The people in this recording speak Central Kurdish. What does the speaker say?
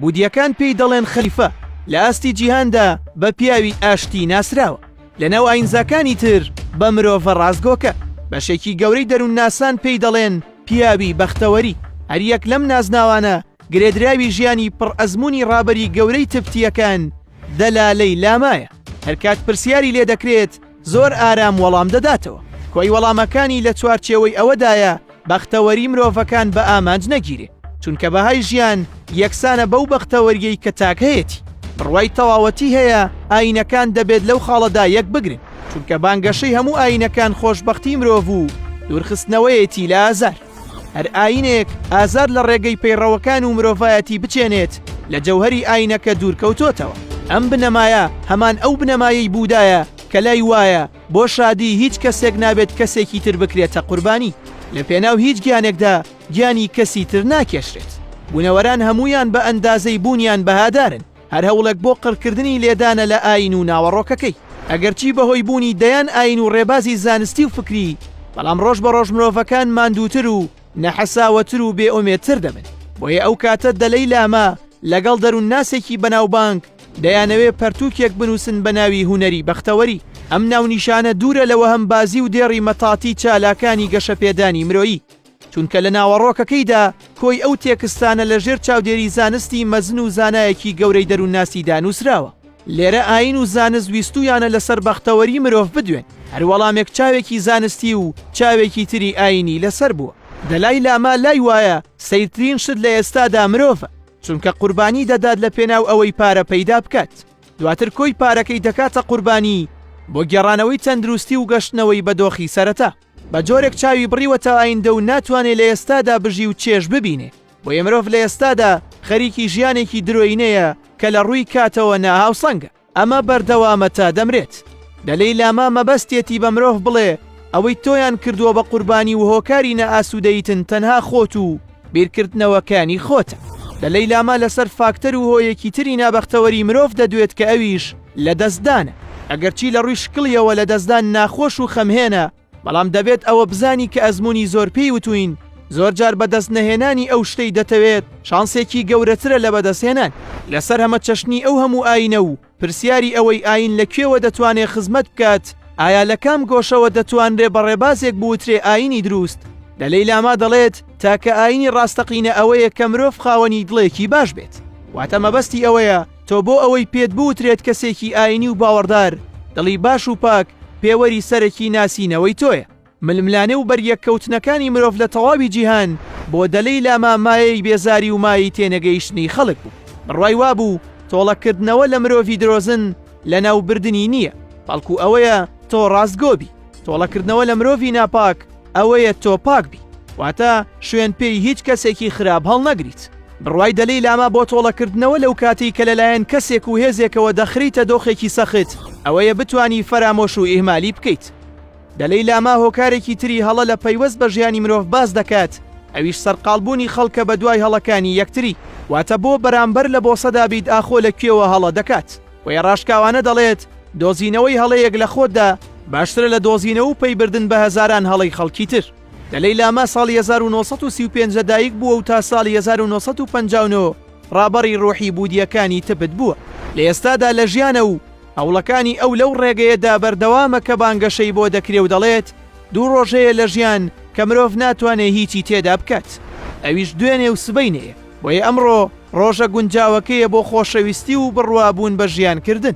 بودییەکان پێی دەڵێن خەلیفە، لە ئاستی جیهاندا بە پیاوی ئاشتی ناسراوە، لەناو ئایینزاکانی تر بە مرۆڤە ڕاستگۆکە، بەشێکی گەورەی دەروونناسان پێی دەڵێن پیاوی بەختەوەری، هەریەک لەم نازناوانە گرێدراوی ژیانی پڕ ئەزموونی ڕابەری گەورەی تبتییەکان دەلالەی لامایە، هەرکات پرسیاری لێدەکرێت، زۆر ئارام وەڵام دەداتەوە. کۆی وەڵامەکانی لە چوارچێوەی ئەوەدایە بەختەوەری مرۆڤەکان بە ئامانج نەگیرێ، چونکە بەهای ژیان یەکسانە بەو بەختەوەرییەی کە تاک هەیەتی. بڕوای تەواوەتی هەیە ئایینەکان دەبێت لەو خاڵەدا یەک بگرن، چونکە بانگەشەی هەموو ئایینەکان خۆشبەختی مرۆڤ و دوورخستنەوەیەتی لە ئازار. هەر ئاینێک ئازاد لە ڕێگەی پەیڕەوەکان و مرۆڤایەتی بچێنێت لە جەوهەری ئاینەکە دوورکەوتۆتەوە. ئەم بنەمایە هەمان ئەو بنەمایەی بوودایە کە لای وایە بۆ شادی هیچ کەسێک نابێت کەسێکی تر بکرێتە قوربانی. لە پێناو هیچ گیانێکدا گیانی کەسی تر ناکێشرێت. بوونەوەران هەموویان بە ئەندازەی بوونیان بەهادارن. هەر هەوڵێک بۆ قڕکردنی لێدانە لە ئاین و ناوەڕۆکەکەی. ئەگەرچی بەهۆی بوونی دەیان ئاین و ڕێبازی زانستی و فکری، بەڵام ڕۆژ بە ڕۆژ مرۆڤەکان ماندووتر و نەحەساوەتر و بێ ئومێدتر دەبن. بۆیە ئەو کاتە دەلەی لامە لەگەڵ دەروونناسێکی بەناوبانگ دەیانەوێ پەرتووکێک بنووسن بە ناوی هونەری بەختەوەری. ئەم ناونیشانە دوورە لە وەهمبازی و دێڕی مەتاتی چالاکانی گەشەپێدانی مرۆیی. چونکە لە ناوەڕۆکەکەیدا کۆی ئەو تێکستانە لە ژێر چاودێری زانستی مەزن و زانایەکی گەورەی دەروونناسیدا نووسراوە. لێرە ئایین و زانست ویستوویانە لەسەر بەختەوەری مرۆڤ بدوێن، هەر وەڵامێک چاوێکی زانستی و چاوێکی تری ئایینی لەسەر بووە. دەلای لاما لای وایە سەیرترین شت لە ئێستادا مرۆڤە، چونکە قوربانی دەدات لەپێناو ئەوەی پارە پەیدا بکات، دواتر کۆی پارەکەی دەکاتە قوربانی بۆ گێڕانەوەی تەندروستی و گەشتنەوەی بە دۆخی سەرەتا. بە جۆرێک چاوی بڕیوەتە ئایندە و ناتوانێ لە ئێستادا بژی و چێژ ببینێ، بۆیە مرۆڤ لە ئێستادا خەریکی ژیانێکی درۆینەیە کە لە ڕووی کاتەوە ناهاوسەنگە، ئەمە بەردەوامە تا دەمرێت. دەلەی لاما مەبەستیەتی بە مرۆڤ بڵێ ئەوەی تۆیان کردووە بە قوربانی و هۆکاری نائاسوودەییتن تەنها خۆت و، بیرکردنەوەکانی خۆتە. لە لەیلاما لەسەر فاکتەر و هۆیەکی تری نابەختەوەری مرۆڤ دەدوێت کە ئەویش لە دەستدانە. ئەگەرچی لە ڕووی شکڵیەوە لە دەستدان ناخۆش و خەمهێنە، بەڵام دەبێت ئەوە بزانی کە ئەزموونی زۆر پێی وتووین زۆرجار بەدەست نەهێنانی ئەو شتەی دەتەوێت شانسێکی گەورەترە لە بەدەستهێنانی. لەسەر هەمەچەشنی ئەو هەموو ئایینە و پرسیاری ئەوەی ئایین لە کوێوە دەتوانێ خزمەت بکات، ئایا لە کام گۆشەوە دەتوانرێ بە ڕێبازێک بوترێ ئایینی دروست؟ دەلەی لاما دەڵێت تاکە ئایینی ڕاستەقینە ئەوەیە کە مرۆڤ خاوەنی دڵێکی باش بێت. واتە مەبەستی ئەوەیە تۆ بۆ ئەوەی پێت بوترێت کەسێکی ئایینی و باوەڕدار، دڵی باش و پاک پێوەری سەرەکی ناسینەوەی تۆیە. ململانێ و بەریەککەوتنەکانی مرۆڤ لە تەواوی جیهان بۆ دەلەی لاما مایەی بێزاری و مایەی تێنەگەیشتنی خەڵک بوو. بڕوای وابوو تۆڵەکردنەوە لە مرۆڤی درۆزن لەناوبردنی نییە، بەڵکو ئەوەیە تۆ ڕاستگۆ بی. تۆڵەکردنەوە لە مرۆڤی ناپاک ئەوەیە تۆ پاک بی، واتە شوێن پێی هیچ کەسێکی خراپ هەڵنەگریت. بڕوای دەلەی لاما بۆ تۆڵەکردنەوە لەو کاتەی کە لەلایەن کەسێک و هێزێکەوە دەخریتە دۆخێکی سەخت ئەوەیە بتوانی فەرامۆش و ئیهمالی بکەیت. دەلەی لاما هۆکارێکی تری هەڵە لە پەیوەست بە ژیانی مرۆڤ باس دەکات، ئەویش سەرقاڵبوونی خەڵکە بە دوای هەڵەکانی یەکتری، واتە بۆ بەرامبەر لە بۆسەدا بیت ئاخۆ لە کوێوە هەڵە دەکات، بۆیە ڕاشکاوانە دەڵێت دۆزینەوەی هەڵەیەک لە خۆتدا باشترە لە دۆزینەوە و پەیبردن بە هەزاران هەڵەی خەڵکی تر. دەلەی لاما ساڵی هەزار و نۆ سەد و سی و پێنج لە دایک بووە و تا ساڵی هەزار و نۆ سەد و پەنجا و نۆ ڕابەڕی ڕۆحی بودییەکانی تبت بووە، لە ئێستادا لە ژیانە و هەوڵەکانی ئەو لەو ڕێگەیەدا بەردەوامە کە بانگەشەی بۆ دەکرێ و دەڵێت، دوو ڕۆژ هەیە لە ژیان کە مرۆڤ ناتوانێ هیچی تێدا بکات، ئەویش دوێنێ و سبەینێیە، بۆیە ئەمڕۆ ڕۆژە گونجاوەکەیە بۆ خۆشەویستی و بڕوابوون بە ژیان کردن.